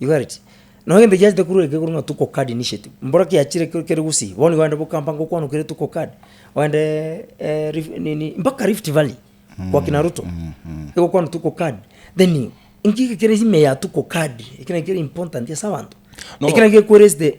You got it? Nabo egento giachete korwa ekegoro ng'a tuko card initiative, mboro kiachire ke- kere gusii, bono nigo ogenda bokampa ngokwanokire tuko card, ogendeeee eeh rif nini mpaka rift valley kwa kina ruto, egokwana tuko card, then inki kere ime ya tuko card, ekero ekere important ase abanto, No. ekero gekoereste.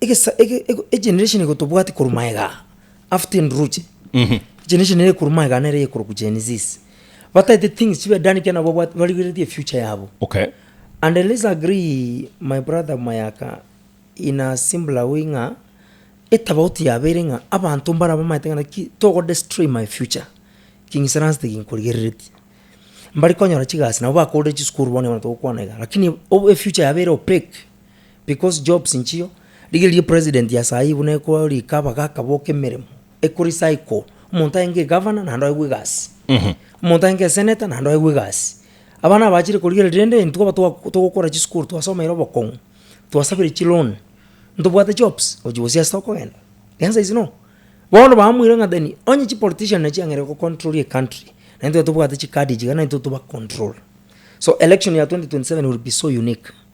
egesa ege- ego- egeneration egotobwati korwa maega after enduruche Mhm. egeneration ere korwa maega nere eye korokwa Gen Zs. bataete things chibe done ekiagera nabo babwate- barigereretie efuture yabo Okay. and let's agree my brother mayaka in a simpler way ng'a etabauti yabeire ng'a abanto mbare bamaete ng'a naki togodestroy my future king'isaranste ginkorigereretie mbare konyora chigasi nabo bakorire chisukuru bono bono togokwana iga lakini obe efuture yabeire opaque. Because jobs nchio, rigereria president ya saii buna ekoroa rika bagaka boka emeremo, ekori cycle, omonto aenge egavana naende oegwe egasi, omonto aenge esenator naende oegwe egasi, abana abachire korigereria rende intwe aba twa togokora chisukuru twasomeire obokong'u, twasabire chiloan, ntobwate jobs gochia gose ase tokogenda? The answer is no, bono bamoire ng'a then onye chipolitician nachi chiang'eire gocontrol ecountry, na intwe tobwate chicard ichiga na intwe tobacontrol. So election ya 2027 will be so unique.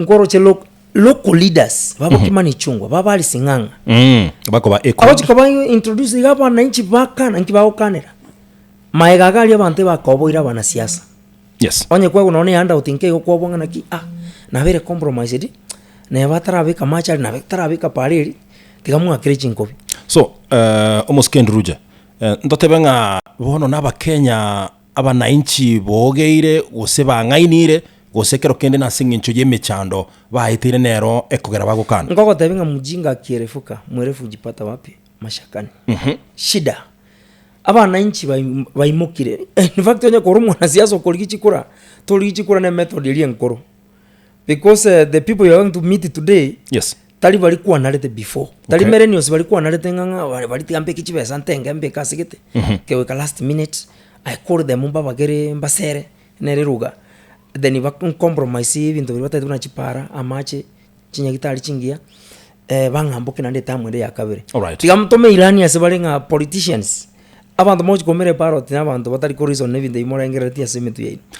Nkoroche lo- local leaders babokima ne chungwa babare sing'ang'a Mm, bakoba echo. abachi koba introduce iga abananchi bakana nki bagokanera maega aga aria abanto ebakoboire abanasiasa Yes. onye kwegwa nonya ne handout nka igo kwobwa ng'a naki ah nabere compromised neba atarabeka amache aria nabe tarabeka para eria tiga mwakere chinkobi So, eh, omosike Nduruje, eh, ntotebe ng'a bono na Abakenya Abananchi bogeire, gose bang'ainire, gose kero kende nase engencho y'emechando baeteire nero ekogera bagokana. Ngogotebi ng'a mujinga kierefuka mwerefu jipata wapi mashakani. Shida. Abananchi baimokire. In fact onye kore omwanasiasa okorigia chikura, torigie chikura ne method eria enkoro. Because eh, the people you are going to meet today Yes. tari bari kwanarete before tari Okay. millennials bari kwanarete ng'ang'a bari- bari tiga mbeke chibesa ntenge mbeke ase gete keweka last minute i call them mbabagere mbasere nere ruga then ba compromise ebinto biria batagete buna chipara amache chinyagitari chingiya eh, bang'amboke naende etamu ende ya kabere Alright. tiga mtome ilani ase bare ng'a politicians abanto mogochi koumera eparoti na abanto batari koreason na ebinto ebi morengereretie ase emetwe yaino